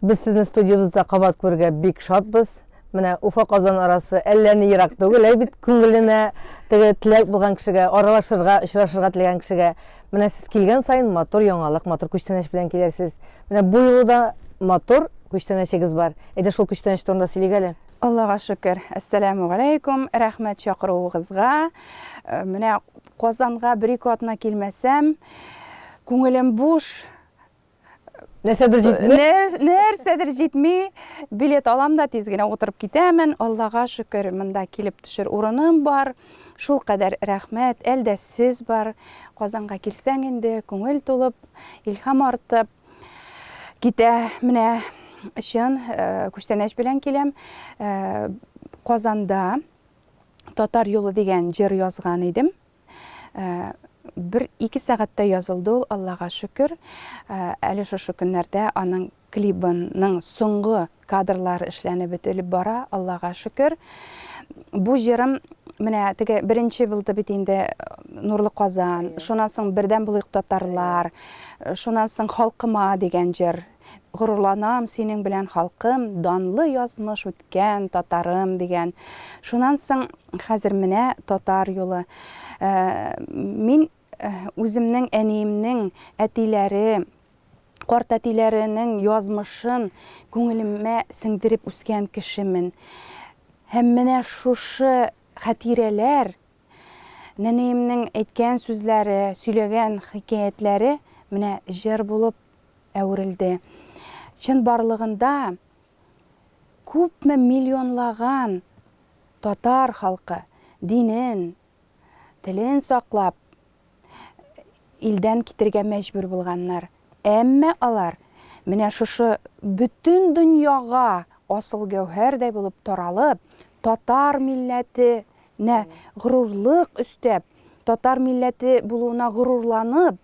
Без сезне студиябездә кабат күрергә бик шатбыз. Менә Уфа-Казан арасы әллә ни ерак түгел, әй бит, күңеленә теге теләк булган кешегә, аралашырга, очрашырга теләгән кешегә. Менә сез килгән саен матур яңалык, матур күчтәнәч белән киләсез. Менә бу юлы да матур күчтәнәчегез бар. Әйдә шул күчтәнәч турында сөйлик әле. Аллага шөкер. Әссәләмү галәйкүм. Рәхмәт чакыруыгызга. Э, менә Казанга бер-ике атна килмәсәм, күңелем буш, Нәрсәдер җитми? Нәрсәдер җитми. Билет алам да тиз генә утырып китәмен. Аллага шөкер, монда килеп төшер урыным бар. Шул кадәр рәхмәт. Әлдә сез бар. Казанга килсәң инде, күңел тулып, илһам артып китә. Менә чын э, күчтәнәч белән киләм. Э, Казанда Татар юлы дигән җыр язган идем. Бер ике сәгатьтә язылды ул, Аллага шөкер. Әле шушы көннәрдә аның клибының соңгы кадрлары эшләнеп бетелеп бара, Аллага шөкер. Бу җырым менә теге беренче булды бит инде Нурлы Казан, шуннан соң Бердәм булыйк татарлар, шуннан соң Халкыма дигән җыр Горурланам синең белән халкым, данлы язмыш үткән татарым, дигән. Шунан соң хәзер менә татар юлы. Мин үземнең әниемнең әтиләре, картәтиләренең язмышын күңелемә сеңдереп үскән кешемен. Һәм менә шушы хәтирәләр Нәниемнең әйткән сүзләре, сөйләгән хикәятләре менә җыр булып әверелде. Чынбарлыгында күпме миллионлаган татар халкы динен, телен саклап, илдән китергә мәҗбүр булганнар. Әмма алар менә шушы бөтен дөньяга асыл гәүһәрдәй булып таралып, татар милләтенә горурлык өстәп, татар милләте булуына горурланып,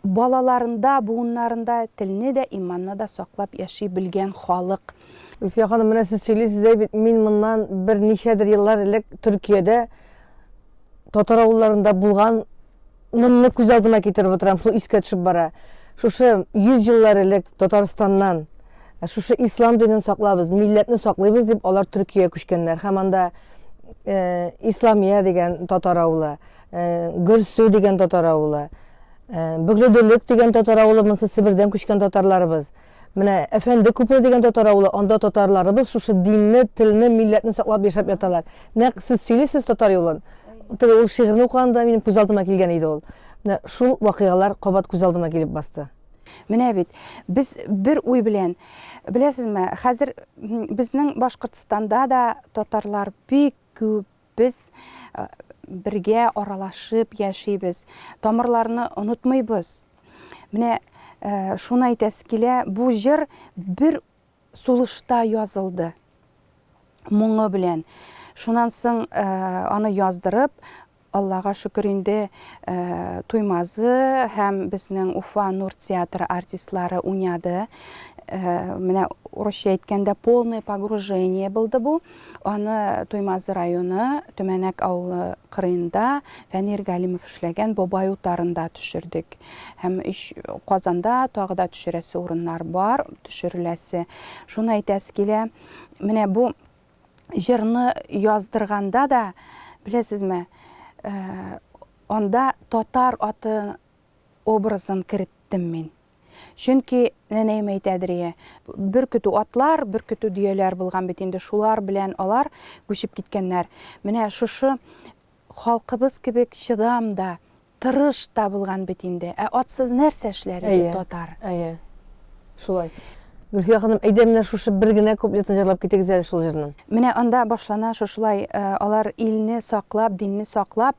балаларында, буыннарында телне дә, иманны да саклап яши белгән халык. Гөлфия ханым, менә сез сөйлисез, әй бит, мин моннан берничәдер еллар элек Төркиядә Татар авылларында булган нымны күз алдыма китереп утырам, шул искә төшеп бара. Шушы 100 еллар элек Татарстаннан ә, шушы ислам динен саклабыз, милләтне саклыйбыз дип алар Төркия күчкәннәр һәм анда э, Исламия дигән татар авылы, э, Гөрсү дигән татар авылы, э, Бөгледөлек дигән татар авылы, монысы Себердән күчкән татарларыбыз. Менә Әфәнде күпере дигән татар авылы, анда татарларыбыз шушы динне, телне, милләтне саклап яшәп яталар. Нәкъ сез сөйлисез татар юлын. Теге ул шигырьне укыганда минем күз алдыма килгән иде ул. Менә шул вакыйгалар кабат күз алдыма килеп басты. Менә бит, без бер уй белән, беләсезме, хәзер безнең Башкортстанда да татарлар бик күп, Без бергә аралашып яшибез, тамырларны онытмыйбыз. Менә шуны әйтәсе килә, бу җыр бер сулышта язылды. Моңы белән. Шуннан соң аны яздырып, Аллага шөкер инде э, Туймазы һәм безнең Уфа Нур театры артистлары уйнады. Э, менә урысча әйткәндә полное погружение булды бу. Аны Туймазы районы Төмәнәк авылы кырыенда Фәнир Галимов эшләгән Бабай утарында төшердек. Һәм Казанда тагы да төшерәсе урыннар бар, төшереләсе. Шуны әйтәсе килә, менә бу җырны яздырганда да, беләсезме, анда татар аты образын кереттем мин. Чөнки, нәнәем әйтәдер йә, бер көтү атлар, бер көтү дөяләр булган бит инде, шулар белән алар күчеп киткәннәр. Менә шушы халкыбыз кебек чыдам да, тырыш та булган бит инде. Ә атсыз нәрсә эшләр иде татар? Әйе, әйе. Шулай. Гөлфия ханым, әйдә менә шушы бер генә куплетын җырлап китегез әле шул җырны. Менә анда башлана шушылай, Алар илне саклап, динне саклап,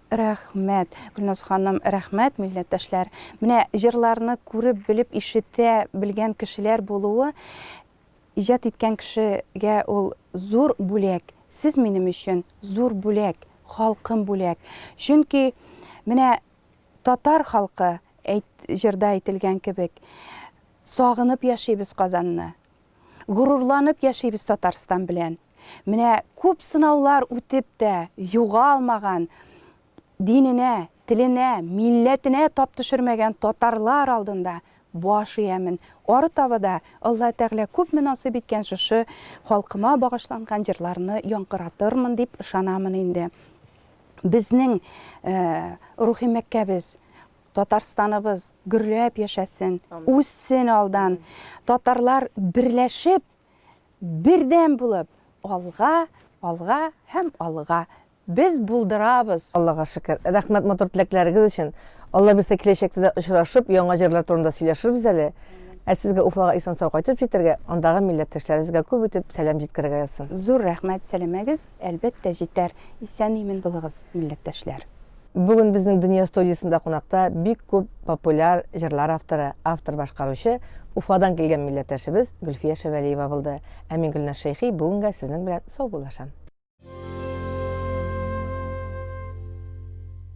Рәхмәт, Гөлназ ханым, рәхмәт, милләттәшләр! Менә җырларны күреп, белеп, ишетә белгән кешеләр булуы, иҗат иткән кешегә ул зур бүләк. Сез минем өчен зур бүләк, халкым бүләк. Чөнки менә татар халкы, әйт, җырда әйтелгән кебек, сагынып яшибез Казанны. Горурланып яшибез Татарстан белән. Менә күп сынаулар үтеп тә, югалмаган, диненә, теленә, милләтенә тап төшермәгән татарлар алдында баш иәмен. Ары таба да Алла Тәгалә күпме насыйп иткән шушы халкыма багышланган җырларны яңгыратырмын дип ышанамын инде. Безнең рухи Мәккәбез, Татарстаныбыз гөрләп яшәсен, үссен алдан, татарлар берләшеп, бердәм булып алга, алга һәм алга! Без булдырабыз! Аллага шөкер! Рәхмәт матур теләкләрегез өчен! Алла бирсә киләчәктә дә очрашып, яңа җырлар турында сөйләшербез әле! Ә сезгә Уфага исән-сау кайтып җитәргә, андагы милләттәшләребезгә күп итеп сәлам җиткерергә язсын! Зур рәхмәт, сәләмәгез, әлбәттә җитәр! Исән-имен булыгыз, милләттәшләр! Бүген безнең Дөнья студиясендә кунакта бик күп популяр җырлар авторы, автор башкаручы Уфадан килгән милләттәшебез Гөлфия Шәвәлиева булды. Ә мин Гөлназ Шәйхи бүгенгә сезнең белән саубуллашам.